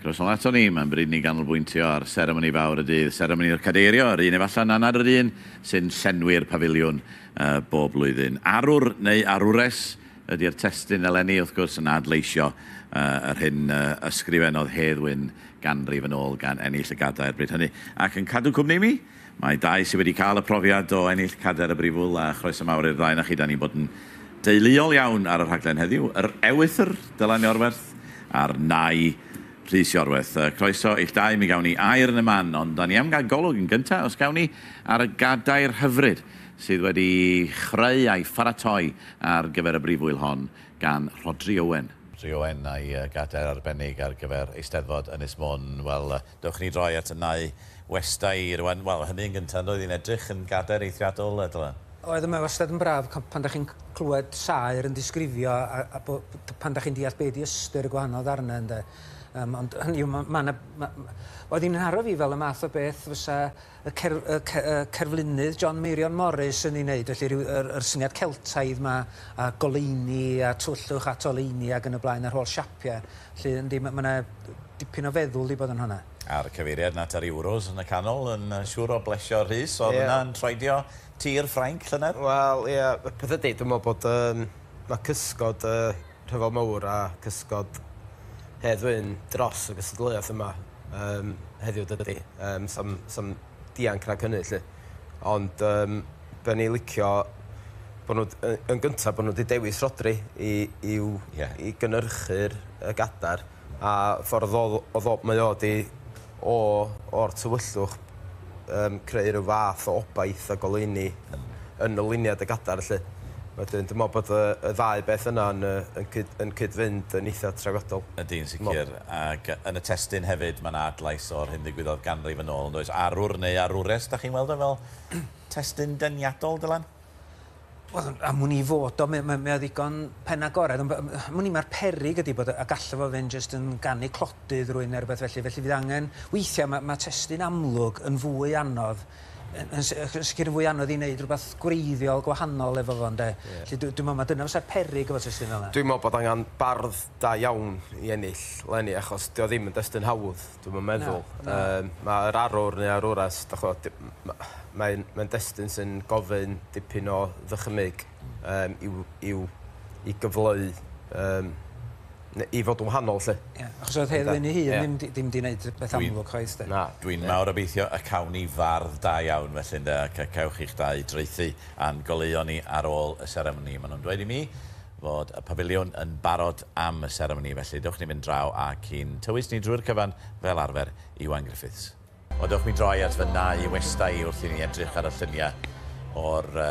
Croeso nol aton ni, mae'n bryd i ni ganolbwyntio ar seremoni fawr y dydd, seremoni o'r Cadeirio, yr un efallai na nad yr un sy'n llenwi'r pafiliwn bob blwyddyn. Arwr neu arwres ydi'r testun eleni, wrth gwrs, yn adleisio yr hyn y ysgrifennodd Hedd Wyn ganrif yn ôl gan ennill y gadair bryd hynny. Ac yn cadw cwmni i mi, Mae dau sydd wedi cael y profiad o ennill cadair y Brifwyl a chroeso mawr i'r ddau 'na chi, 'da ni'n bod yn deuluol iawn ar y rhaglen heddiw, yr ewythr Dylan Iorwerth a'r nai Rhys Iorwerth. Croeso i'ch dau, mi gawn ni air yn y man, ond 'da ni am gael golwg yn gynta', os gawn ni, ar y gadair hyfryd sydd wedi chreu a'i pharatoi ar gyfer y Brifwyl hon gan Rhodri Owen. Rhodri Owen a'i gadair arbennig ar gyfer Eisteddfod Ynys Môn, wel, Dewch ni droi at y nau westai rwan. Wel, hynny yn gynta, yndoedd, i'n edrych yn gader eithriadol, yy, Dylan? Oedd, mae wastad yn braf c- pan 'da chi'n c- clywed saer yn disgrifio a, a bo, t- pan 'da chi'n deall be' 'di ystyr y gwahanol ddarnau, ynde? Yym, ond hynny yw, ma', ma' 'na, ma', ma'... Oedd hi'n nharo fi fel y math o beth fysa y cer- y ce- y cerflunydd John Meirion Morris yn ei wneud, felly ryw yr yr syniad Celtaidd 'ma a goleuni a tywyllwch at oleuni ag yn y blaen a'r holl siapie, 'lly yndi ma' ma' 'na dipyn o feddwl 'di bod yn honna. A'r cyfeiriad at yr Euros yn y canol yn siŵr o blesio Rhys, o'dd hwnna yn troedio tir Ffrainc llynedd? Wel ia, y peth ydi dwi me'wl bod yym ma' cysgod yy rhyfel mawr a cysgod Hedd Wyn dros y gystadleuaeth yma yym heddiw dydi? Yym sam sam dianc nac hynny 'lly. Ond yym be' o'n i licio bo' nw d- yy yn gynta bo' nw 'di dewis Rhodri i i'w... Ie. ...i gynyrchu'r y gadar a ffordd odd o odd o mae o 'di O, o'r tywyllwch, yym, creu rhyw fath o obaith a goleuni yn y luniau dy gadar 'lly. Wedyn, dwi'n meddwl bod y y ddau beth yna yn yy yn cyd- yn cyd-fynd yn eitha' trawiadol. Ydy, yn sicr. Ac yn y testun hefyd, ma' 'na adlais o'r hyn ddigwyddodd ganrif yn ôl, yn does? Arwr neu arwres, dach chi'n weld o fel testun deniadol, Dylan? Wel, am wn i fod o. Mae o ddigon pen agored. Ond am wn i mae'r peryg ydy bod... a gallo fo fynd jyst yn ganu clodydd rwy'n neu rhywbeth felly. Felly fydd angen... weithiau mae mae testun amlwg yn fwy anodd yn yn yn sicr yn fwy anodd i wneud rhywbeth gwreiddiol gwahanol efo fo ynde? Felly dwi'n meddwl mae dyna fysa'r peryg efo testun fel yna. Dwi'n meddwl bod angen bardd da iawn i ennill 'leni achos 'di o ddim yn destun hawdd, dwi'm yn meddwl. Na, na. Yym ma' yr arwr neu arwres dych ch'mod d- m- ma' mae'n mae'n destun sy'n gofyn dipyn o ddychymyg yym i'w i'w i gyfleu yym ne- i fod yn wahanol 'lly. Ie achos o'dd Hedd Wyn 'i hun ddim 'di ddim 'di neud rhwbeth amlwg chwaith 'de? Na. Dwi'n mawr obeithio y cawn ni fardd da iawn felly ynde ac y cewch chi'ch dau draethu a'n goleuo ni ar ôl y seremoni ma' nw'n dweud i mi. fod y pafiliwn yn barod am y seremoni, felly dewch ni fynd draw ac i'n tywys ni drwy'r cyfan fel arfer, Iwan Griffiths. Wel, dewch mi droi at fy nau westai wrth i ni edrych ar y lluniau o'r uh,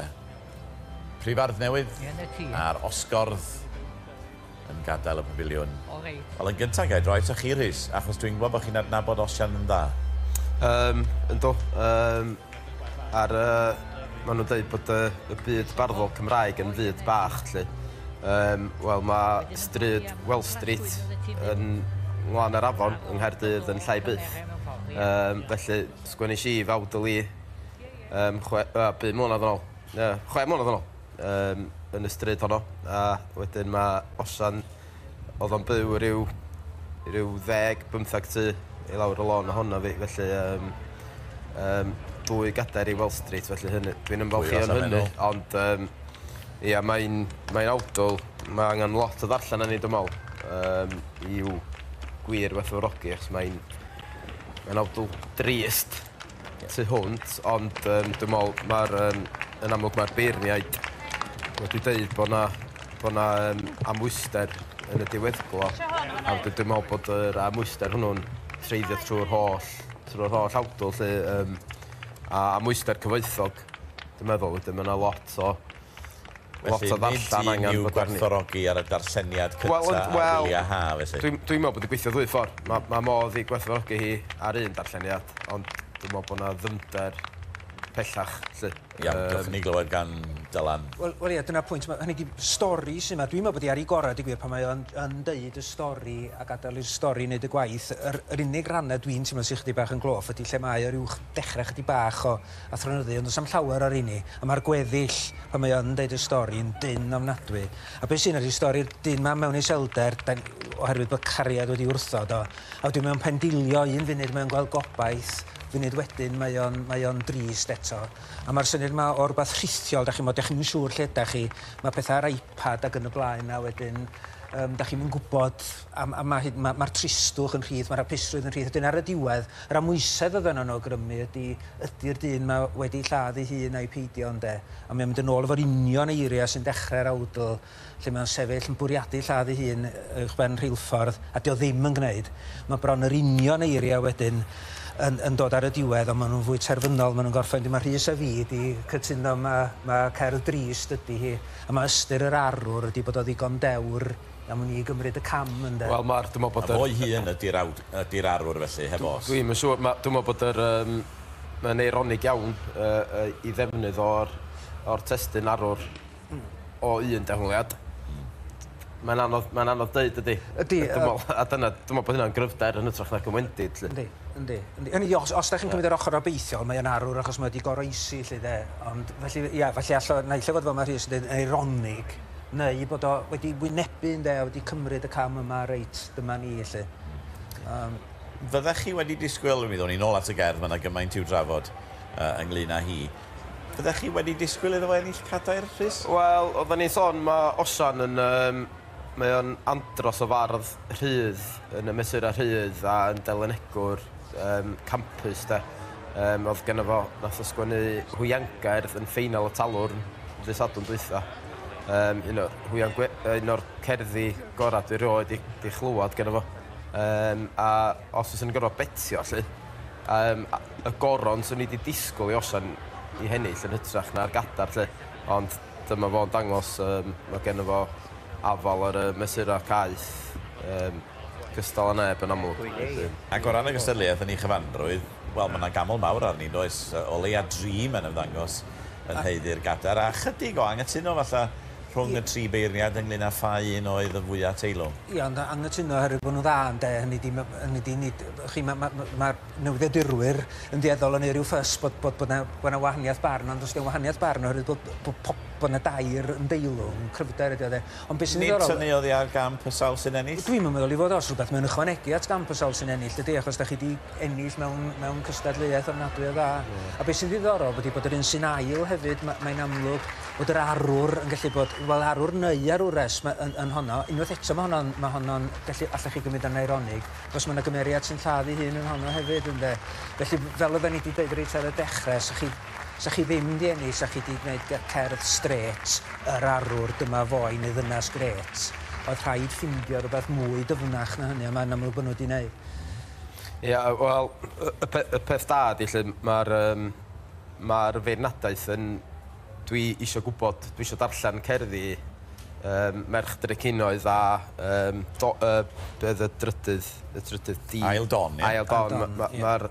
prifardd newydd a'r osgordd yn gadael y pafiliwn. Wel, yn gyntaf gael droi ta chi, Rhys, achos dwi'n gwybod bod chi'n adnabod Osian yn dda. Um, ynddo. Um, Ar y... Maen nhw'n dweud bod y, y byd barddol Cymraeg yn fyd bach, lle. Um, Wel, mae stryd Well Street yn nglan ar afon yng Nghaerdydd yn llai byth. Um, felly, sgwennes i fawd y li um, chwe, uh, bu mlynedd yn ôl, uh, chwe mlynedd yn ôl, um, yn y stryd honno. A wedyn mae Osian Odd o'n byw ryw ryw ddeg bymthag ty i lawr y lôn ohona fi felly yym yym dwy gadair i Wall Street felly hynny dwi'n ymfalchio yn hynny ond yym ia mae'n mae'n awdl ma' angan lot o ddarllen arni dwi me'wl yym i'w gwir werthfawrogi achos mae'n mae'n awdl drist. tu hwnt, ond yym dwi me'wl ma'r yym yn amlwg ma'r beirniaid wedi deud bo' 'na bo' 'na yym amwyster yn y diweddglo a wedyn dwi me'wl bod yr amwyster hwnnw'n treiddio trw'r holl trw'r holl awdl 'lly yym a amwyster cyfoethog dwi'n meddwl wedyn ma' 'na lot o Lot o ddarllen angen fod arni. Felly nid un i'w gwerthfawrogi ar y darlleniad cynta ar wyliau haf felly? Wel, dwi'n meddwl bod hi'n gweithio ddwy ffordd. Mae modd ei gwerthfawrogi hi ar un darlleniad, ond dwi'n meddwl bod 'na ddyfnder pellach 'lly. Iawn, dewch i ni glywed gan Dylan. Wel, wel ie, dyna'r pwynt. Mae, hynny ydi, stori sy' 'ma, dwi'n meddwl bod hi ar ei gorau, deud gwir, pan mae o yn yn deud y stori a gadael i'r stori wneud y gwaith. Yr yr unig rannau dwi'n teimlo sy' chydig bach yn gloff ydi lle mae o ryw ch- dechrau chydig bach o a threnyddu ond does am llawer ar inni a mae'r gweddill pan mae yn deud y stori yn dynn ofnadwy a be sy'n ydy stori'r dyn ma mewn iselder da, oherwydd bod cariad wedi wrthod o a wedyn mae o'n pendilio un funud mae o'n gweld gobaith funud wedyn mae o'n mae o'n drist eto a mae'r syniad ma o rhywbeth rhithiol da chi'n bod da chi'n siŵr lle da chi mae pethau ar iPad ac yn y blaen a wedyn um, da chi'n gwybod A ma, ma hyd, ma, ma'r tristwch yn rhydd, ma'r hapusrwydd yn rhydd. Wedyn ar y diwedd, yr amwysedd oedd yno yn awgrymu ydy, ydy'r dyn 'ma wedi lladd ei hun ai peidio, ynde? A mae o'n mynd yn ôl efo'r union eiriau sy'n dechrau'r awdl, lle mae o'n sefyll yn bwriadu lladd ei hun uwchben rheilffordd, a 'di o ddim yn gwneud. Mae bron yr union eiriau wedyn yn, yn dod ar y diwedd, ond maen nhw'n fwy terfynol, maen nhw'n gorffen, wedyn mae Rhys a fi 'di cytuno ma, ma cerdd drist ydy hi, a ma ystyr yr arwr ydy bod o ddigon dewr Am wn i i gymryd y cam ynde? Wel ma'r dwi me'wl bod y... A fo'i hun ydi'r awd- ydi'r arwr felly heb os. Dwi'm yn siŵr ma' dwi me'wl bod yr yym ma'n eironig iawn yy yy 'i ddefnydd o'r o'r testun arwr o un dehongliad. Mae'n anodd mae'n anodd deud dydi? Ydi yy. Dwi me'wl a dyna dwi me'wl bo' hynna'n gryfder yn ytrach nag yn wendid 'lly. Yndi yndi yndi. Hynny yw os os 'dach chi'n cymryd yr ochor obeithiol mae o'n arwr achos mae o 'di goroesi 'lly 'de ond felly ia felly alla- naill ai fod fel ma' Rhys yn deud eironig neu bod o wedi wynebu ynde a wedi cymryd y cam yma reit dyma ni 'lly. Hmm. Yym. Fyddech chi wedi disgwyl, mi ddown ni nôl at y gerdd, ma' 'na gymaint i'w drafod yy ynglŷn â hi. Fyddech chi wedi disgwyl iddo fo ennill cadair, Rhys? Wel, oedden ni'n sôn ma' Osian yn yym mae o'n andros o fardd rhydd yn y mesurau rhydd a yn delynegwr um, campus de. Um, oedd gen fo, nath o sgwennu hwiangair yn ffeinal y talwr ddy sadwn dwytha. Um, un o'r hwian, un o'r cerddi gorau dwi roed i, i chlywed gen fo. Um, a os oes yn gorau betio, lle, um, y goron sy'n ni wedi disgwyl i osian i hennill yn hytrach na'r gadar, lle. Ond dyma fo'n dangos, um, mae gen fo afal ar y mesurau caeth. Um, gystal â neb yn amlwg, felly. Ac o ran y gystadleuaeth yn ei chyfanrwydd, wel, mae 'na gaml mawr arni, yn does? O leia dri mae'n ymddangos yn haeddu'r gadair, a chydig o anghytuno falla rhwng y tri beirniad ynglŷn â pha un oedd y fwya' teilwng. Ia, ond anghytuno oherwydd bod nhw'n dda, ynde, hynny ydi, ma', hynny ydi, nid, y'chi, ma', ma', ma' newyddiadurwyr yn dueddol o wneud rhyw ffys bod, bod, bod 'na, bod 'na wahaniaeth barn, ond os 'di o'n wahaniaeth barn oherwydd bod, bod, bod 'na dair yn deilwng, cryfder ydi o, de. Ond be' sy'n ddiddorol... Nid tynnu oddi ar gamp y sawl sy'n ennill? Dwi'm yn meddwl 'i fod o, os rhywbeth, mae'n ychwanegu at gamp y sawl sy'n ennill, dydi, achos 'dach chi 'di ennill mewn, mewn cystadleuaeth ofnadwy o dda. Ie. A be' sy'n ddiddorol ydi bod yr un sy'n ail hefyd, ma', mae'n amlwg bod yr arwr yn gallu bod, wel, arwr neu arwres, ma', yn, yn honno. Unwaith eto, ma' honno'n, ma' honno'n gallu, allech chi gymryd o'n eironig, achos ma' 'na gymeriad sy'n lladd ei hun yn honno hefyd, ynde. Felly, fel oedden ni 'di deud reit ar y dechre, 'sych chi Sa chi ddim di ennill sa chi di gwneud gy cerdd strêt yr arwr dyma fo i mi ddynas grêt oedd rhaid ffindio rwbeth mwy dyfnach na hynny a mae'n amlwg bod nhw di neud. Ia wel y pe- y peth da ydi lly ma'r yym ma'r feirniadaeth yn dwi isio gwbod dwi isio darllen cerddi yym merch drecinoedd a yym do- yy be oedd y drydydd y trydydd di? Ail Don ia? Ail Don ma' ma' ma'r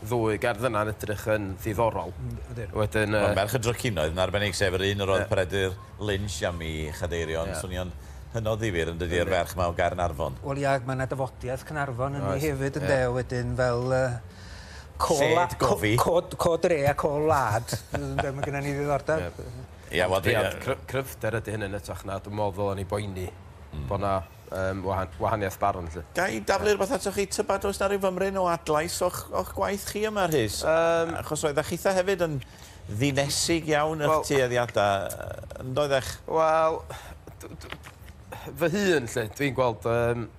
ddwy gerdd yna'n edrych yn ddiddorol. Ydyn. Wedyn yy... Wel Merch y Drycinoedd yn arbennig sef yr un yr oedd Peredur Lynch am i Chadeirion Ie. swnio'n hynod ddifyr yn dydi? Yndi. A'r ferch 'ma o Gaernarfon. Wel ia ag ma' 'na dafodiaith Caernarfon ynddi hefyd ynde? Oes ie. Wedyn fel yy co-... Lled gofi. ...co- co- co dre a co wlad ynde ma' gynna ni ddiddordeb. Ie. Ia wel dwi yy... Cry- cryfder ydi hynny yn ytrach na dwi me'wl ddylen ni boeni... Hmm. ...bo' 'na um, wahan, wahaniaeth barn. Lle. Ga i daflu rhywbeth atoch chi, tybed oes na rhyw fymryn o adlais o'ch, och gwaith chi yma, Rhys? Um, Achos oedd eich eitha hefyd yn ddinesig iawn eich well, tueddiadau, yn doedd eich? Wel, fy hun, lle, dwi'n gweld... Um,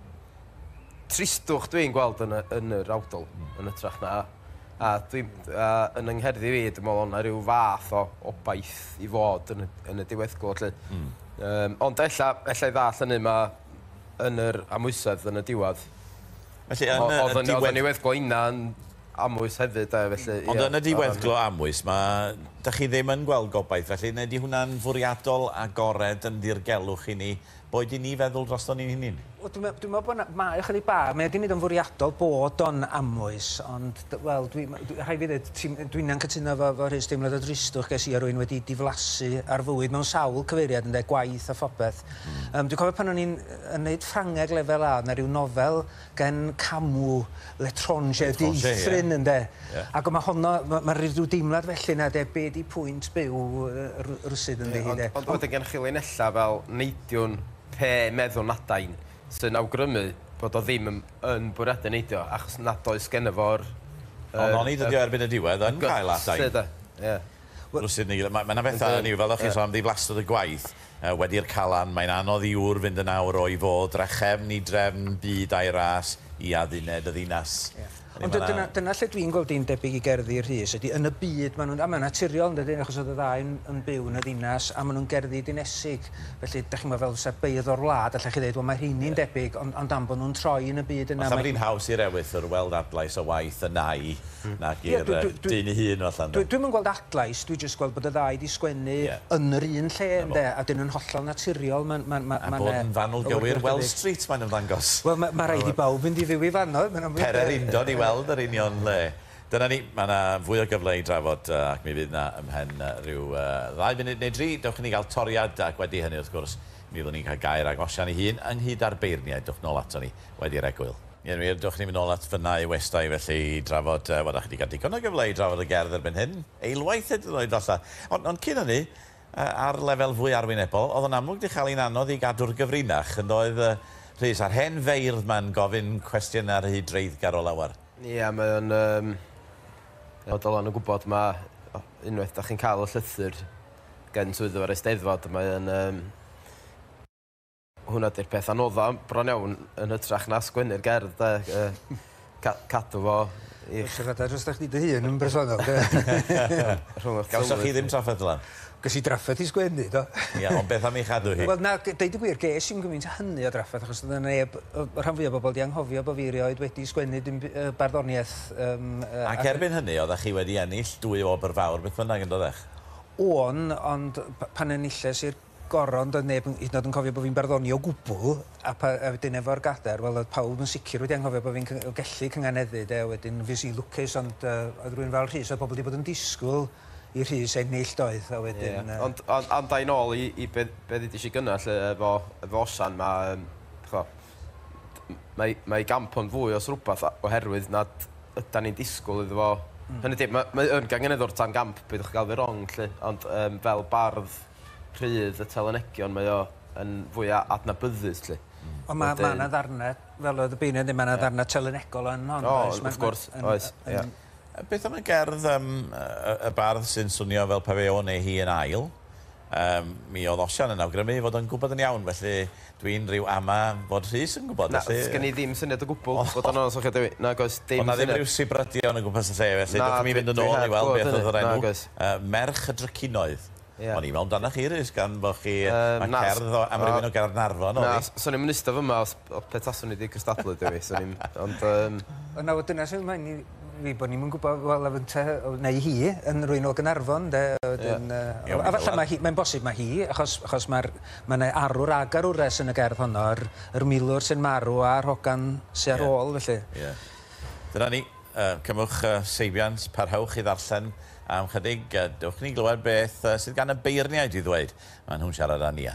tristwch dwi'n gweld yn, y, yn yr awdol, yn y trach na A dwi a yn 'y ngherddi fi dwi me'wl o' 'na ryw fath o obaith i fod yn y yn y diweddglo 'lly. Hmm. Yym ond ella ella i ddall' hynny ma' yn yr amwysedd yn y diwadd Felly yn y y diwedd-... O'dd y niweddglo inna'n amwys hefyd 'de felly ia. Ond yn y diweddglo amwys 'ma 'dach chi ddim yn gweld gobaith felly ne' 'di hwnna'n fwriadol agored yn ddirgelwch i ni Boed i ni feddwl drosto ni'n hunin. Wel dwi me- dwi me'wl bo' 'na... Mae o chydig bach, mae o 'di neud o'n fwriadol bod o'n amwys ond d- wel dwi m- dwi... Rhai' fi ddeud ti'm... Dwi'm yn cytuno efo efo Rhys, deimlad o dristwch ges i o rywun wedi diflasu ar fywyd mewn sawl cyfeiriad ynde, gwaith a phopeth. Hmm. Yym dwi'n cofio pan o'n i'n yy yn neud Ffrangeg lefel A o'dd 'na ryw nofel gen Camu, L'Etranger, Dieithryn ynde? Ac o mae honno, mae rhyw deimlad felly na de, be di pwynt byw rywsut ynddi hi de. Ond wedyn gennych chi linellau fel Neidiwn pe meddwn adain sy'n awgrymu bod o ddim yn bwriadu neidio achos nad oes genno fo'r... Ond oni dydi o erbyn y diwedd yn cael adain rywsut neu gilydd. Mae yna bethau hynny yw fel o'ch chi'n sôn am ddiflastredd y gwaith, Wedi'r Calan, mae'n anodd i ŵr fynd yn awr o'i fo, drachefn i drefn, byd a'i ras, i adduned y ddinas. Ie. Ond dy- dyna, dyna lle dwi'n gweld hi'n debyg i gerddi Rhys, ydi yn y byd ma' nhw'n... A mae'n naturiol, yn dydi, achos oedd y ddau yn yn byw yn y ddinas, a ma' nhw'n gerddi dinesig, felly, dach chi'mod, fel fysa beirdd o'r wlad, allech chi ddeud, wel, mae rheini'n debyg, ond ond am bod nhw'n troi yn y byd yna, mae... Falle bod hi'n haws i'r ewythr weld adlais o waith y nai nag i'r yy dyn ei hun, falle, ynde? Dwi'm yn gweld bleidlais, dwi jyst gweld bod y ddau 'di sgwennu yn yr un lle ynde, a 'dyn yn hollol naturiol, ma'n, ma'n, ma'n, ma'n... A bod yn fanwl gywir Wells Street mae'n ymddangos. Wel ma' ma' raid i bawb fynd i fyw i fanno, mae'n amlwg. Pere'r undod i weld yr union le. Dyna ni, mae 'na fwy o gyfle i drafod ac mi fydd 'na ymhen ryw ddau funud neu dri, dewch i ni gael toriad ac wedi hynny wrth gwrs mi fyddwn ni'n cael gair ag Osian ei hun ynghyd â'r beirniaid, dewch nôl ato ni. wedi'r egwyl. Yn wir, dewch ni'n mynd nôl at Fyna i Westai felly i drafod, wel, dach chi 'di cael digon o gyfle i drafod y gerdd erbyn hyn, eilwaith hyd yn oed falle. Ond, ond cyn hynny, ar lefel fwy arwynebol, oedd o'n amlwg 'di chael hi'n anodd i gadw'r gyfrinach, yn doedd, Rhys, a'r hen feirdd 'ma'n gofyn cwestiynau rhy dreiddgar o lawer. Ia, mae o'n yym, fel dylen nhw gwybod, ma', unwaith dach chi'n cael y llythyr gen swyddfa'r Eisteddfod, mae o'n yym, Hwnna 'di'r peth anodda bron iawn yn hytrach na sgwennu'r gerdd 'de yy ca- cadw fo i... Os fedrai jyst â chdi dy hun yn bersonol 'de? Rhwng 'ych tywydd... Gawsoch chi ddim trafferth fel 'a? Ges i drafferth i sgwennu do. Ia ond beth am ei chadw hi? Wel na g- deud y gwir ges i'm gymint â hynny o drafferth achos o'dd 'na neb yy y rhan fwya o bobol 'di anghofio bo' fi erioed wedi sgwennu dim by- yy barddoniaeth yym yy ac... Ac erbyn hynny oddach chi wedi ennill dwy wobr fawr beth bynnag yndodech? O'n ond p- pan enilles i'r goron, doedd neb hyd yn oed yn cofio bod fi'n barddoni o gwbl, a pa- a wedyn efo'r gader, wel oedd pawb yn sicr wedi anghofio bod fi'n cy- gellu cynganeddu de, wedyn fues i'n lwcus ond yy oedd rywun fel Rhys, oedd pobl 'di bod yn disgwyl i Rhys ennill doedd, a wedyn yy... Ie, ond ond ond ai nôl i i be be ddudis i gynna 'lly efo efo Osian ma' yym ch'mo' m- mae mae 'i gamp o'n fwy os rwbath a- oherwydd nad ydan ni'n disgwyl iddo fo... Hmm. ...hynny 'di ma' mae yn gangynyddwr tan gamp peidiwch a ga'l fi rong 'lly ond yym fel bardd Rhydd y talonegion mae o yn fwya adnabyddus 'lly. Hmm. Ond ma' ma' 'na ddarne fel oedd y beirniad ddim ma' 'na ddarne telynegol yn hon does? O wrth gwrs oes ia. A beth am y gerdd yym yy y bardd sy'n swnio fel pe fe o'n ei hi yn ail? Yym mi o'dd Osian yn awgrymu fod o'n gwbod yn iawn felly dwi'n rhyw ama fod Rhys yn gwbod felly... Na sgen i ddim syniad o gwbwl bod o'n onest efo chi Dewi nag oes dim syniad. O'dd 'na ddim ryw sibryddion o gwmpas y lle felly dach chi'n mynd yn ôl i weld beth o'dd yr enw yy merch y drycinoedd. Ie. O'n i'n me'wl amdanach chi Rhys gan bo' chi... Yym na. ...ma' cerdd o am rywun o Gaernarfon odd 'i. Na swn i'm yn ista fy 'ma os p- o pe taswn i 'di cystadlu 'da fi swn i'n ond yym... Wel nawr dyna sy'n moyn i fi bo' ni'm yn gwbo wel a fynta o neu hi yn rywun o Gnarfon 'de a wedyn yy... Ie. ...a a falla ma' hi mae'n bosib ma' hi achos achos ma'r ma' 'ne arwr a garwres yn y gerdd honno yr yr milwr sy'n marw a'r hogan sy ar ôl felly. Ie. Dyna ni. Yy cymwch yy seibiant parhewch i ddarllen Am ychydig, dewch i ni glywed beth sydd gan y beirniaid i ddweud. Maen nhw'n siarad â Nia.